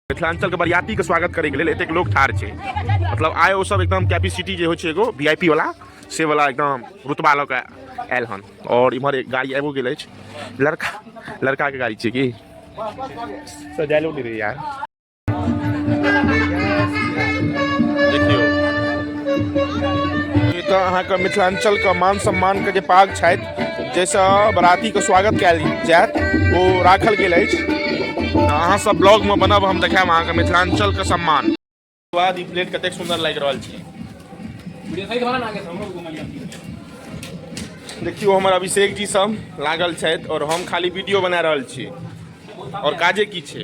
मिथिलाञ्चलके बरियातीके स्वागत करैके लेल एतेक लोक ठाढ़ छै मतलब आइ ओसभ एकदम कैपेसिटी जे होइ छै एगो वी आई पी वाला से वाला एकदम रुतबा लऽ कऽ आयल हन आओर इम्हर एक गाड़ी आबिओ गेल अछि लड़का लड़काके गाड़ी छै कि सजायलो नहि रहै यार देखियौ ई तऽ अहाँके मिथिलाञ्चलके मान सम्मानके जे पाग छथि जैसे बराती के स्वागत कयल जायत ओ राखल गेल अछि तऽ अहाँ सब ब्लॉग में बनब हम देखायब अहाँके मिथिलांचल के सम्मान बाद ई प्लेट कतेक सुंदर लागि रहल छै देखियो हमर अभिषेक जी सब लागल छथि और हम खाली वीडियो बना रहल छी और काजे की छै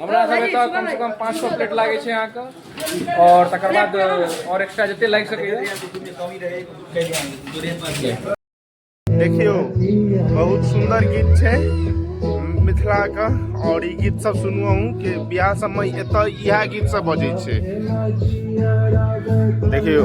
हमरा सब एतऽ कम से कम पाँच सौ प्लेट लागै छै अहाँके और तकर बाद और एक्स्ट्रा जते लागि सकैए देखियो बहुत सुंदर गीत छै मिथिला के और ई गीत सब सुनू अहूँ के बियाह सब में एतऽ इएह गीत सब बजै छै देखियो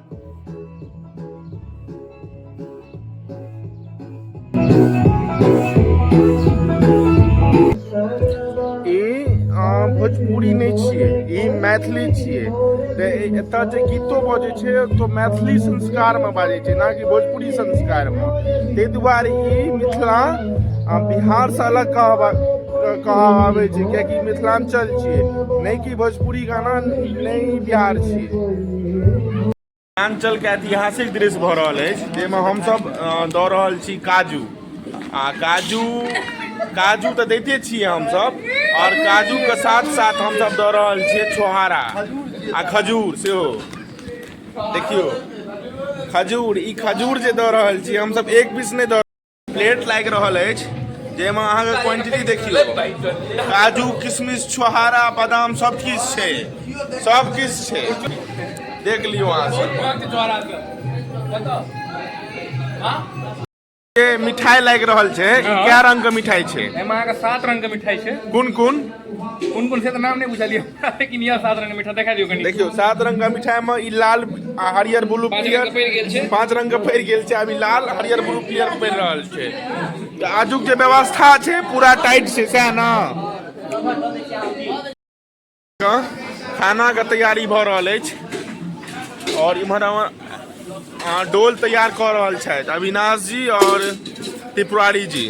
भोजपुरी नहीं छे ई मैथिली छे तो एतऽ जे गीतो बजे छे तो मैथिली संस्कार में बाजे छे ना कि भोजपुरी संस्कार में ते दुआरे ई मिथिला बिहार से अलग कहबा कहा आवे छे क्या कि मिथिलांचल छे नहीं भोजपुरी गाना नहीं बिहार छी मिथिलाञ्चलके ऐतिहासिक दृश्य भऽ रहल अछि जाहिमे हमसभ दऽ रहल छी काजू आ काजू काजू तऽ दैते छियै हमसभ आओर काजूके साथ साथ हमसभ दऽ रहल छियै छोहारा आ खजूर सेहो देखियौ खजूर ई खजूर जे दऽ रहल छियै हमसभ एक पीस नहि दऽ प्लेट लागि रहल अछि जाहिमे अहाँके क्वांटिटी देखि लो काजू किशमिश छोहारा बादाम सब किछु छै सब किछु छै देख लियौ अहाँ सब जे मिठाई लागि रहल छै ई कए रंग के मिठाई छै एहिमे अहाँके सात रंग के मिठाई छै कोन कोन कोन कोन से तऽ नाम नहि बुझलियै हमरा, लेकिन यह सात रंग मीठा देखा दियौ कनि देखियौ सात रंग का मिठाई में ई लाल आ हरियर ब्लू पाँच रंग के पड़ि गेल छै। पीयर पांच रंग के पड़ि गेल छै अभी लाल हरियर ब्लू पीयर पड़ि रहल छै तऽ आजुक जे व्यवस्था छै पूरा टाइट छै सएह ने खाना के तैयारी भऽ रहल अछि और इम्हर हमर अहाँ डोल तैयार कऽ रहल छथि अविनाश जी और त्रिपुरारी जी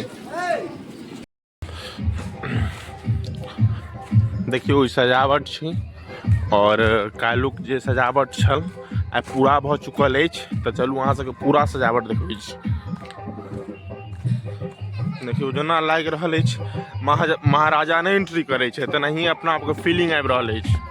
देखियौ ई सजावट छी आओर काल्हुक जे सजावट छल आइ पूरा भऽ चुकल अछि तऽ चलू अहाँ सबके पूरा सजावट देखबै छी देखियौ जेना लागि रहल अछि महाराजा नहि एंट्री करै छै तेनाही अपना आपके फीलिंग आबि रहल अछि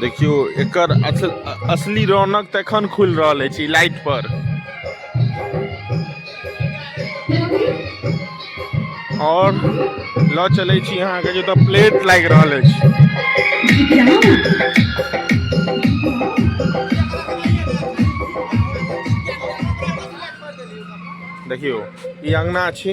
देखियो एकर असल असली रौनक तखन खुलि रहल अछि ई लाइट पर आओर लऽ चलैत छी अहाँके जतऽ प्लेट लागि रहल अछि देखियौ ई अङ्गना छी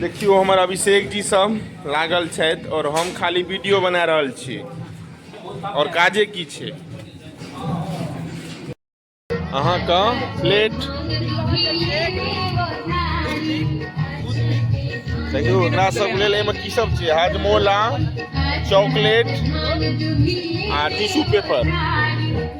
देखियो हमर अभिषेक जी सब लागल छथि और हम खाली वीडियो बना रहल छी और काजे की छै अहाँके प्लेट देखियो एकरा सब लेल एहिमे की सब छै हाजमोला चॉकलेट आ टिश्यू पेपर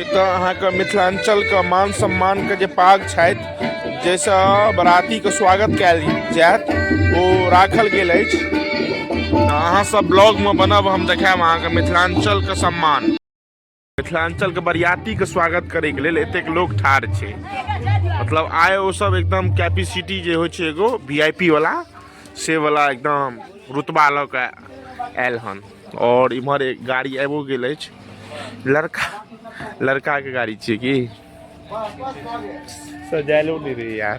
एतऽ अहाँके मिथिलाञ्चलके मान सम्मानके जे पाग छथि जाहिसँ बरातीके स्वागत कयल जायत ओ राखल गेल अछि अहाँसभ ब्लॉगमे बनब हम देखायब अहाँके मिथिलाञ्चलके सम्मान मिथिलाञ्चलके बरियातीके स्वागत करैके लेल एतेक लोक ठाढ़ छै मतलब आइ ओ सब एकदम कैपेसिटी जे होइ छै एगो वी आई पी वाला से वाला एकदम रुतबा लऽ कऽ आयल हन आओर इम्हर एक गाड़ी आबिओ गेल अछि लड़का लड़काके गाड़ी छियै की सजायलो नहि रहै यार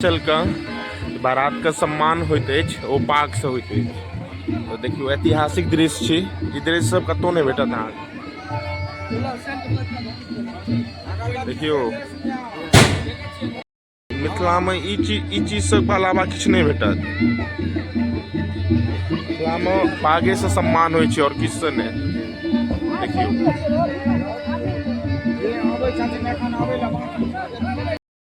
चलके बारातके सम्मान होइत अछि ओ पाकसँ होइत अछि तऽ देखियौ ऐतिहासिक दृश्य छी ई दृश्य सब कतहु नहि भेटत अहाँके देखियौ मिथिलामे ई चीज ई चीज सबके अलावा किछु नहि भेटत मिथिलामे पागेसँ सम्मान होइ छै आओर किछुसँ नहि देखियौ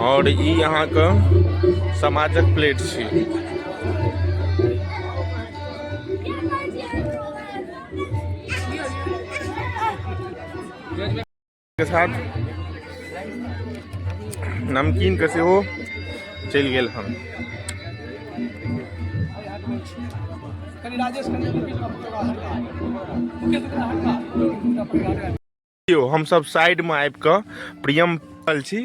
और ई यहाँ के समाजक प्लेट छी के साथ नमकीन के सेहो चलि गेल हम यौ हमसभ साइडमे आबि कऽ प्रियम पल छी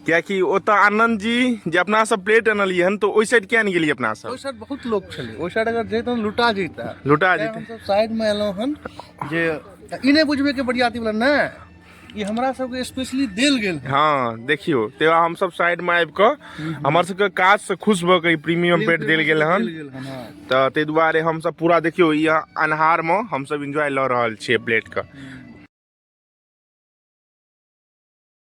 कियाकि ओतऽ आनन्द जी जे अपना सब प्लेट अनलियै हन तऽ ओहि साइड किया नहि गेलियै अपना सब ओहि साइड बहुत लोग छलै ओहि साइड अगर जैतहुँ लुटा जैता लुटा जैता साइडमे एलहुँ हन जे ई नहि बुझबै कि बरियाती वाला नहि ई हमरा सबके स्पेशली देल गेल है। हाँ देखियो ते हम सब साइड में आबि के हमर सबके काज से खुश भ के ई प्रीमियम बेड देल गेल हन देल गेल हन, हाँ। तऽ ताहि दुआरे हम सब पूरा देखियो ई अन्हार में हम सब एंजॉय ल रहल छियै प्लेट के